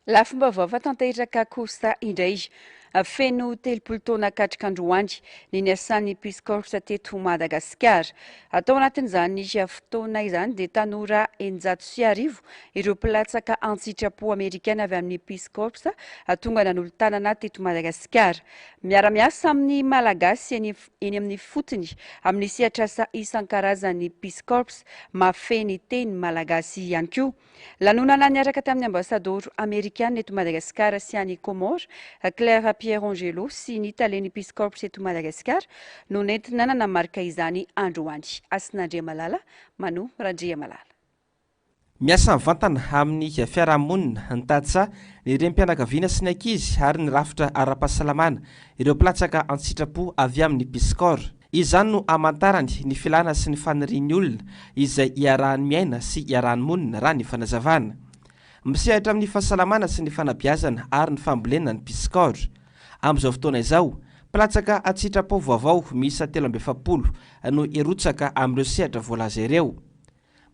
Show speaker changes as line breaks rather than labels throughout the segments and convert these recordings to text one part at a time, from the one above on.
Lafim-baovao fa tanteraka kosa indray feno telopolo taona katrika androany ny niasan'ny Peace Corps teto Madagasikara. Atao anatin'izany fotoana izany dia tanora eninjato sy arivo ireo mpilatsaka an-tsitrapo amerikana avy amin'ny Peace Corps tonga nanolo-tanana teto Madagasikara. Miara-miasa amin'ny Malagasy eny eny amin'ny fotony amin'ny sehatr'asa isan-karazany Peace Corps, mahafehy ny teny malagasy ihany koa. Lanonana niaraka tamin'ny Ambasadoro Amerikana eto Madagasikara sy any Comores, Claire Pierangelo sy ny Talen'ny Peace Corps eto Madagasikara no nentina nanamarika izany androany. Hasinandriamalala, Manu Randriamalala.
Miasa mivantana amin'ny fiarahamonina, ny tantsaha, ny renim-pianakaviana sy ny ankizy ary ny rafitra ara-pahasalamana ireo mpilatsaka an-tsitrapo avy amin'ny Peace Corps. Izany no amantarany ny filana sy ny fanirian'ny olona izay iarahany miaina sy iarahany monina raha ny fanazavana. Misehatra amin'ny fahasalamana sy ny fanabeazana ary ny fambolena ny Pyscore. Amin'izao fotoana izao, mpilatsaka an-tsitrapo vaovao miisa telo amby efapolo no hirotsaka amin'ireo sehatra voalaza ireo.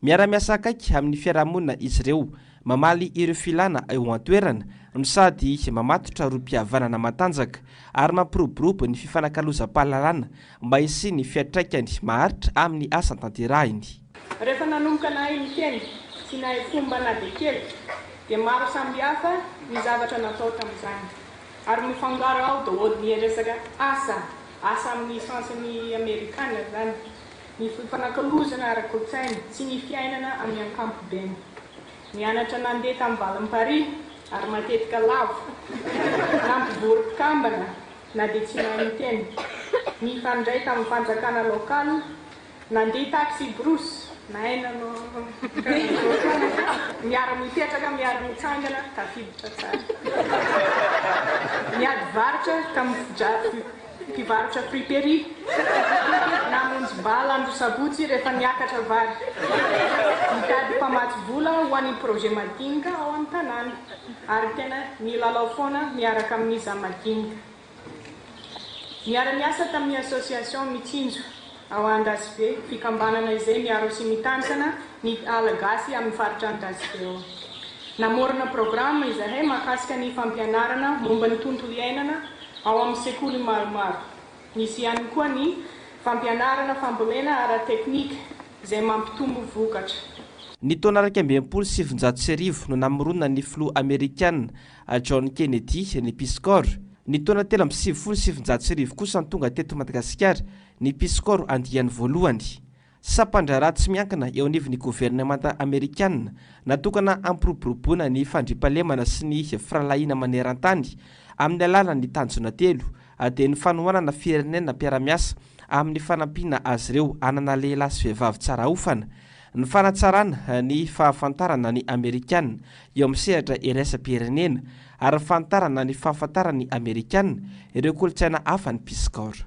Miara-miasa akaiky amin'ny fiarahamonina izy ireo, mamaly ireo filàna eo an-toerana, no sady mamatotra rohim-pihavanana matanjaka ary mampiroborobo ny fifanakalozam-pahalalana mba hisian'ny fiantraikany maharitra amin'ny asa tanterahiny. Rehefa nanomboka
nahay niteny sy nahay fomba na dia kely dia maro sambihafa ny zavatra natao tamin'izany ary mifangaro ao daholo ny resaka asa, asa amin'ny sens-n'ny amerikana izany, ny fifanakalozana ara-kolontsaina sy ny fiainana amin'ny ankapobeny. Nianatra nandeha tamin'ny valin'i Paris ary matetika lavo nampivory mpikambana na dia tsy mahay miteny. Nifandray tamin'ny fanjakana local, nandeha taxi brousse, nahay nanao miara-mipetraka, miara-mitsangana, tafiditra tsara. Niady varotra tamin'ny fidra. Mpivarotra friperie namonjy bala andro sabotsy rehefa niakatra vary. Nitady mpamatsy vola ho an'ny projet madinika ao amin'ny tanàna ary tena nilalao foana miaraka amin'ny za madinika. Niara-niasa tamin'ny association Mitsinjo. Ao Andasibe, fikambanana izay miaro sy mitantana ny ala gasy amin'ny faritra Andasibe ao. Namorona programa izahay mahakasika ny fampianarana momba ny tontolo iainana ao amin'ny sekoly maromaro. Nisy ihany koa ny fampianarana fambolena ara-teknika izay mampitombo vokatra. Ny taona
iraika amby enimpolo sy sivinjato sy arivo no namoronan'ny filoha amerikana John Kennedy ny Peace Corps. Ny taona telo amby sivifolo sy sivinjato sy arivo kosa no tonga teto Madagasikara Ny Peace Corps andiany voalohany, sampan-draharaha tsy miankina eo anivon'ny governemanta amerikana natokana hampiroboroboana ny fandriampahalemana sy ny firahalahiana maneran-tany amin'ny alalan'ny tanjona telo, dia ny fanohanana firenena mpiara-miasa amin'ny fanampiana azy ireo hanana lehilahy sy vehivavy tsara aofana, ny fanatsarana ny fahafantarana ny Amerikana eo amin'ny sehatra iraisam-pirenena, ary ny fanitarana ny fahafantaran'ny Amerikana ireo kolontsaina hafa ny Peace Corps.